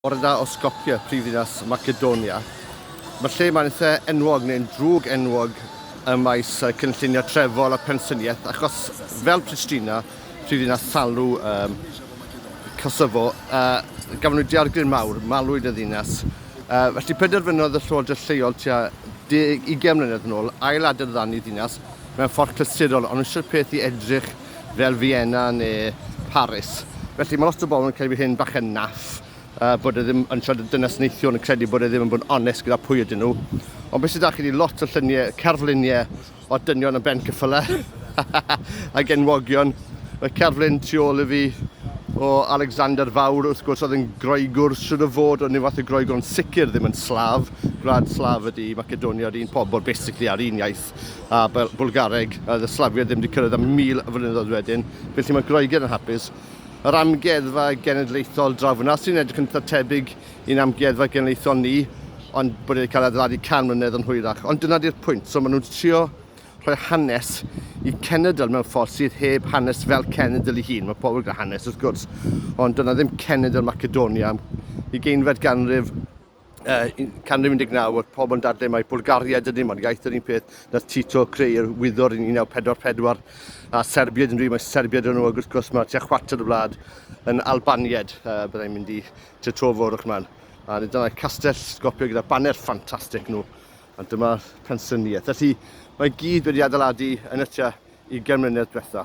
Bore da o Skopje, prifddinas Macedonia. Mae'r lle yma'n eitha enwog neu'n drwg enwog ym maes cynllunio trefol a pensyniaeth achos fel Pristina, prifddinas Salw, um, Kosovo, uh, gafon nhw diargryn mawr, malwyd y ddinas. Uh, felly penderfynodd y llywodraeth lleol tua 20 mlynedd yn ôl ail adeiladu ddinas mewn ffordd clasurol, ond eisiau'r peth i edrych fel Vienna neu Paris. Felly mae lot o bobl yn credu bod hyn bach yn naff, uh, bod e ddim yn siarad y dynas neithiwr yn credu bod e ddim yn bod yn onest gyda pwy ydyn nhw. Ond beth sydd da chi wedi lot o lluniau, cerfluniau o dynion yn ben cyffylau ac enwogion. Mae cerflun tu ôl i fi o Alexander Fawr, wrth gwrs, oedd yn Groegwr, sydd o fod o nifath y Groegwr, ond sicr ddim yn Slav. Gwlad Slav ydi Macedonia, yr un pobl, basically, a'r un iaith. a Bul Bwlgareg, a oedd y Slafiaid ddim wedi cyrraedd am 1000 o flynyddoedd wedyn, felly mae Groegaidd yn hapus. Yr Amgueddfa Genedlaethol draw fyna, sy'n edrych yn eitha tebyg i'n Amgueddfa Genedlaethol ni, ond bod wedi cael adeiladu 100 mlynedd yn hwyrach. Ond dyna di'r pwynt, so maen nhw'n trio rhoi hanes i cenedl mewn ffordd sydd heb hanes fel cenedl ei hun. Mae pobl gyda hanes wrth gwrs, ond dyna ddim cenedl Macedonia. Ugeinfed ganrif, uh, canrif 19 oedd pob yn dadle mae Bulgaria dydyn nhw'n iaith yr un peth na Tito creu'r wyddor yn 1944 a Serbiaid yn rhywun mae Serbiaid yn nhw ac wrth gwrs mae tua chwarter y wlad yn Albaniad uh, byddai'n mynd i to to fawr o'ch man a dyna castell sgopio gyda baner ffantastig nhw a dyma pensyniaeth felly mae gyd wedi adeiladu yn y tua i gemrynedd diwetha